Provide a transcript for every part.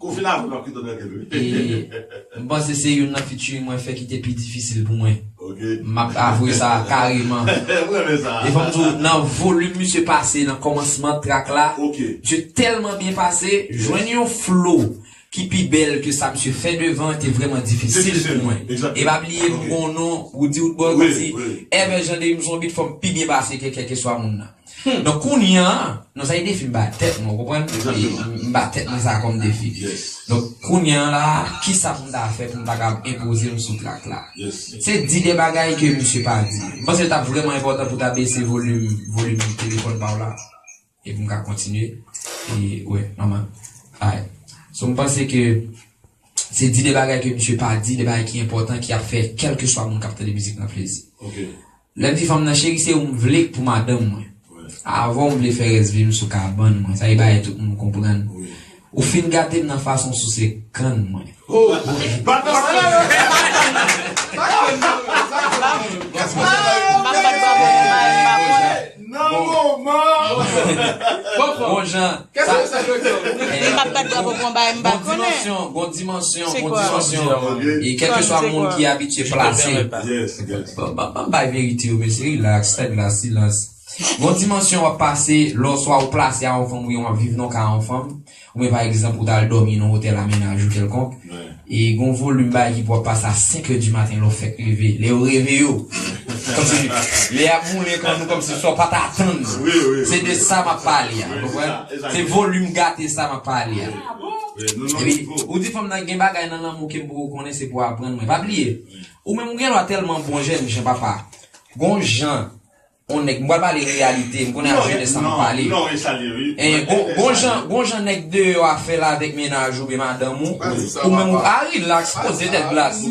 Kou fin avèl wap kite tranquil wi. E m panse se youn nan featuring mwen fè ki te pi difisil pou mwen. Ok. M ap avwe sa kareman. M renmen sa. E fòm di w nan volume misye pase nan kòmansman track la. Ok. Misye tèlman byen pase, jwenn yon flow ki pi bèl ke sa misye fè devan te vrèman difisil pou mwen. E pa bliye m gon non Roody Woodboy m di ever jan de m sou yon beat fòm pi byen pase ke kèlkeswa moun nan. Donk kounye an, non sa e defi m ba tèt mwen, ou konprann? M ba tèt mwen sa kòm defi. Donk kounye an la a, kisa pou m ta fè pou m ta kab enpoze m sou trak la? Se di de bagay ke misye pa di yo. M panse l t ap vrèman enpòtan pou w ta bese volim, volim telefòn pa w la e pou m ka kontinye. E, wè, nòmal. Alright. So m panse ke se di de bagay ke misye pa di, de bagay ki enpòtan ki ap fè kèlkeswa moun k ap tande mizik lan plezi. Lè m di fanm nan cheri se ou m vle pou madanm mwen. Avè w m vle fè rès vi m sou kabann mwen. Sa e bagay tout moun konprann. Ou fin gate m nan fason w souse kann mwen. Nan moman. Bon jan. Kèt se sa yo diw. M pap bat bravo pou yon bagay m pa konnen. Gon dimansyon, gon dimansyon. E kèlke swa moun ki abitye plase. Yes, yes. Banm bay verite yo mesye relax tèg la silans. Gon dimansyon wap pase lè oswa ou plase a yon fanm ou byen wap viv nan ka yon fanm. Oubyen pa egzanp ou ta al dòmi nan otèl a mennaj ou kèlkonk, e gon volim bagay ki pou ap pase a 5 è di maten lè w fèk leve, lè yo reve yo, kòmsi lè ap boule kò nou kòmsi sa w pa t atann, se de sa m ap pale a, ou konprann? Se volim gate sa m ap pale a. Epi, ou di fanm nan gen bagay nan lanmou ke m poko konnen se pou aprann mwen. Pa bliye, ou menm ou gen dwa tèlman bon jèn jan papa, gon jan. On nèg, m pral pale reyalite, m konnen ap jenès la m ap pale. Gon jan nèg deyò a fè la avèk mennaj oubyen madanm ou, ou menm ou pa rilaks, poze tèt glas.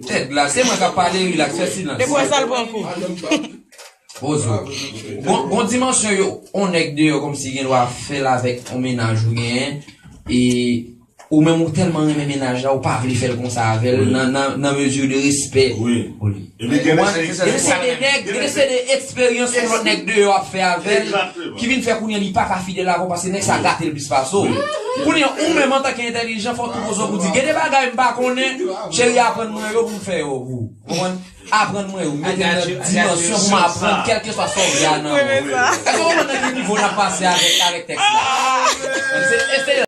Tèt glas, se mwen k ap pale rilaks, fè silans. Epi wè sa l pran kou. Poze w. Gon dimansyon yo, on nèg deyò kòmsi gen dwa fè la avèk on mennaj ou genyen e. Ou menm ou telman renmen mennaj la ou pa vle fèl konsa avèl nan mesure de respect pou li. Epi gen de se Gen de se de nèg, gen de se de eksperyans yon lòt nèg deyò ap fè avèl ki vin fè kounye li paka fidèl avèw paske nèg sa gatel plis pase w. Kounye ou menm antanke entèlijan fòw tou poze w pou di gen de bagay m pa konnen cheri aprann mwen yo pou m fè yo pou ou. Ou konprann? Aprann mwen yo, mete m nan dimansyon pou m aprann kèlkeswa sa w vle a nan mwen. Èske w konprann nan ki nivo n ap pase avèk tèks la?